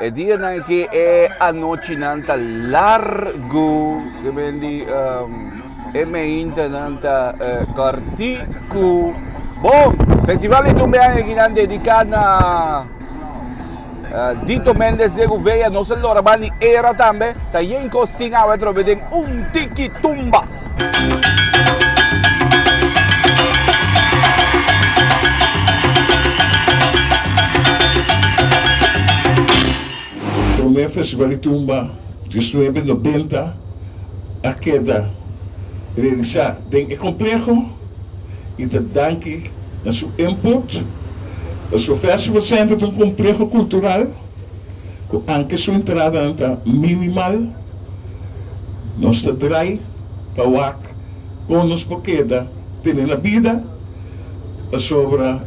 E dianan aki e anochinan ta largu, ke men di e meintanan ta kòrtiku. Bon, Festival di Tumbeaña aki nan dediká na Dito Méndez de Gouveia, nos a lora bani era tambe, ta Yenko Singhawe atrobe den un tiki tumba. Promé Festival di Tumba Diesnuebe Nobenta a keda realisá den e kompleho i ta danki na su input. Osofestivalcenter ta un kompleho kultural. cu anke su entradanan ta minimal, nos ta drai pa wak con nos por keda tene na bida, pasobra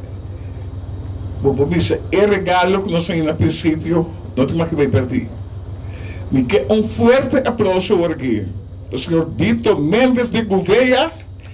bo por bisa e regalo cu nos a hina principio no ta maki bay perdi. Mi ke un fuerte aplauso ora aki pa señor Dito Mendez de Gouveia.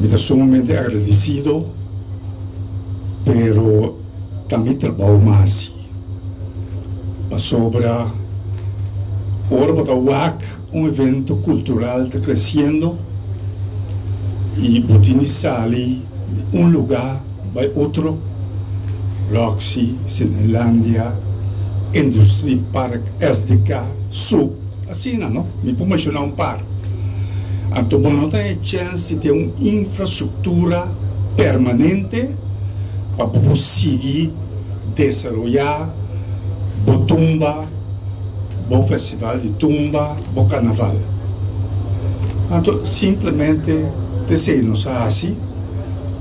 Mi ta sumamente agradecido, pero ta mi trabao masi. Pasobra ora bo ta wak un evento cultural ta creciendo y bo tin di sali di un luga bay otro, Roxy, Cinelandia, Industrie Park, SDK, Zouk, asina no, mi por menciona un par. Anto bo no ta e chèns di tin un infrastruktura permanente pa bo por sigui desaroyá bo tumba, bo festival di tumba, bo karnaval. Anto simplemente ta esei nos a hasi.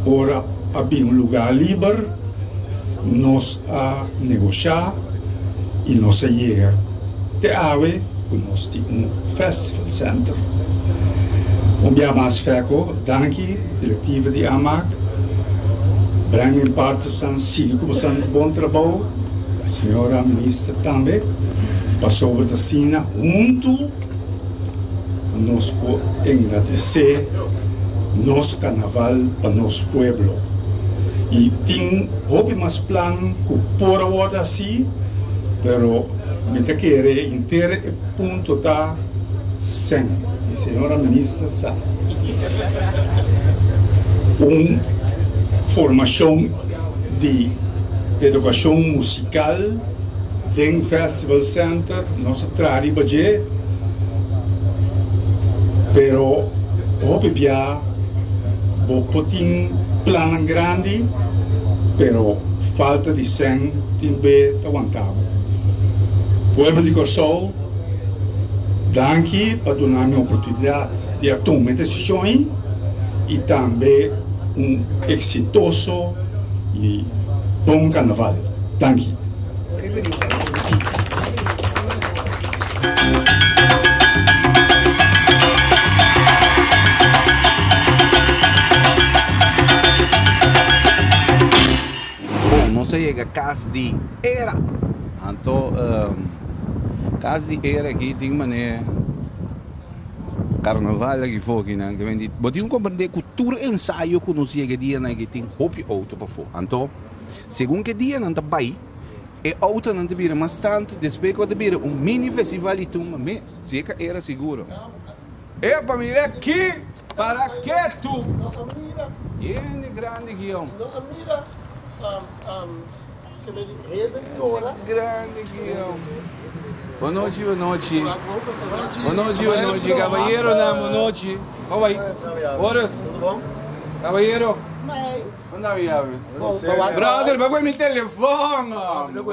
Ora a bin un lugá liber, nos. a negosha y nos a yega te awe cu nos tin un festival center. Un bia mas Feco, danki directiva di AMAC, breng en parte san sibi cu bo sa hasi bon trabou, señora minister tambe, pasobra ta asina hunto. Nos por engadesé nos Carnaval pa nos pueblo. Y tin hopi mas plan cu por a wordo hací, pero mi ta kere henter e punto ta Sen. Y Señora Minister sa. Un formacion di educacion musical den festa. Civil Center nos a traha riba dje, pero hopi bia bo por tin plannan grandi, pero falta di sèn tin be ta wanta bo. Pueblo di Kòrsou, danki pa duna mi oportunidat di a tuma e desishon ei i tambe un eksitoso i bon karnaval. Danki. Bon, nos a yega Cas di Era. Anto, Cas di Era aki tin man'é Carnaval aki fokinan ke men di, bo tin ku komprendé ku tur ensayo ku nos yega e dianan aki tin hopi outo pafó. Anto. Segun ki e dianan ta bai, e outonan ta bira mas tantu, despues ku a ta bira un mini festival di tumba mes, si e ka era seguro. E pa mira ki, para ke tu? Hende grandi guion. Bonochi, bonochi. Bonochi, bonochi, kabayeronan, bonochi. Ora, kabayero. Brother, pa coge mi telefon, hombre.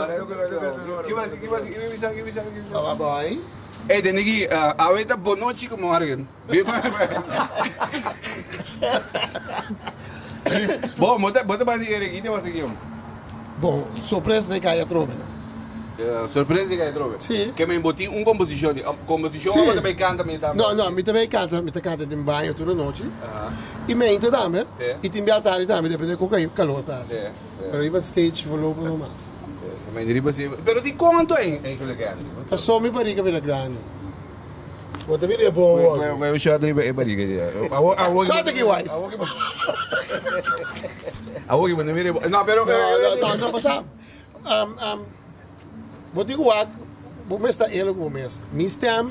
Ey, den aquí, uh, awe ta bonochi ku morgen. Bo, mo ta, bo ta bani eregi te was aquí, om. Bo sorpres di Gaya Trobe. Sorpres di Gaya Trobe? Si. Ke men bo tin un komposishon di komposishon abo ta bay kanta men tambe? No, no, mi ta bay kanta, mi ta kanta den baño tur e nochi. I mente tambe, i tin bia tardi tambe depende di kon ka kalor ta hasi. Pero riba e stage volopo no mas. Mente riba si. Pero tin konto en Chula Grandi? Paso mi bariga bira grandi. Bo ta bira e bo awor. Bo a bay un shot riba e bariga di. Awor ki wise. Awor iba no mira iba. No, pero... Tasa a pasa. Um, um, bo tin wak, bo mes ta elo bo mes. Mi stem,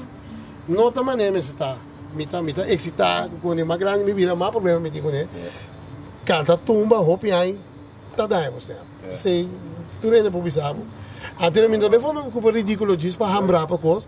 no ta mané mes ta. Mi ta, mi ta excita, con ma grande mi vida, ma problema mi tin con e. Canta tumba, hopi ai, ta daña bo stem. Se, tu rende po bisabo. Antes mi ta be forma, cupa ridículo, jis pa hambra pa cos.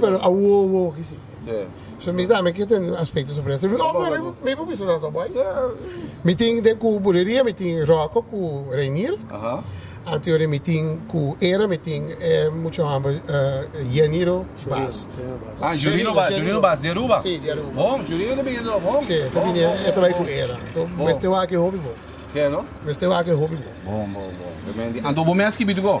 Pero a wowo wowo ki si. So mi tambe quier tene un aspecto sobre eso. No, no, mi, mi por bisa tanto boy. Mi tin den cu bulería, mi tin Rocco cu Reinier. Anterior mi tin cu era, mi tin eh, mucho hambre, eh, Yeniro Bas. Ah, Jurino Bas, Jurino Bas, di Aruba? Si, di Aruba. Bon, Jurino ta bini do, bon. Si, ta bini, e ta bai cu era. To, mester wak e hopi bon. Si, no? Mester wak e hopi bon. Bon, bon, bon. Anto bo mes ki bituko?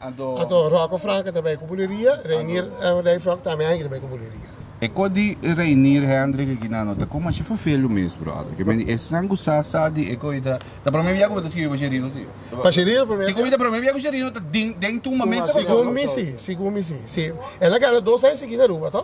Anto Rocco Franke ta bai ku buleria, Reinier André Frog tambe anto ta bai ku buleria. E kos di Reinier Hendrik aki nan no ta kuma shi fafelu mes brother. Ke men esnan ku sa sa di e kos i ta ta prome bia ku bo ta skibi pa Sherino si. Pa Sherino prome bia. Si ku mi ta prome bia ku Sherino ta den den tuma mes. Sigun mi si, sigun mi si. Si el a gana dos aña sigi na Aruba to.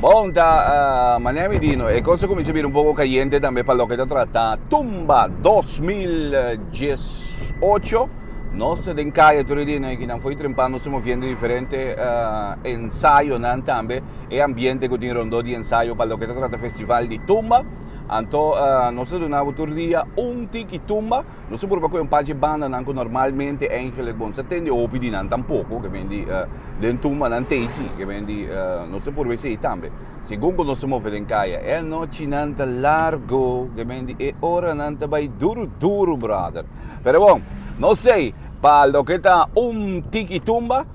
Bon ta manera mi di no e cosa cuminsa bira un poco cayente tambe pa loke ta trata tumba dos mil dies ocho nos ta den caye tur e dia nan ekinan fo'i trempa nos ta moviendo diferente ensayonan tambe e ambiente cu tin rondó di ensayo pa loke ta trata festival di tumba anto nos ta duna bo tur dia un tiki tumba. Nos a purba cu e un par dje bandanan cu normalmente eigenlijk bon sa tende hopi di nan tampoco, ke men di den tumba nan tey si, ke men di nos a purba hesey tambe. Segun cu nos a move den caya e anochinan ta largo, ke men di e oranan ta bay duru duru brother. Pero bon, nos sey pa loke ta un tiki tumba.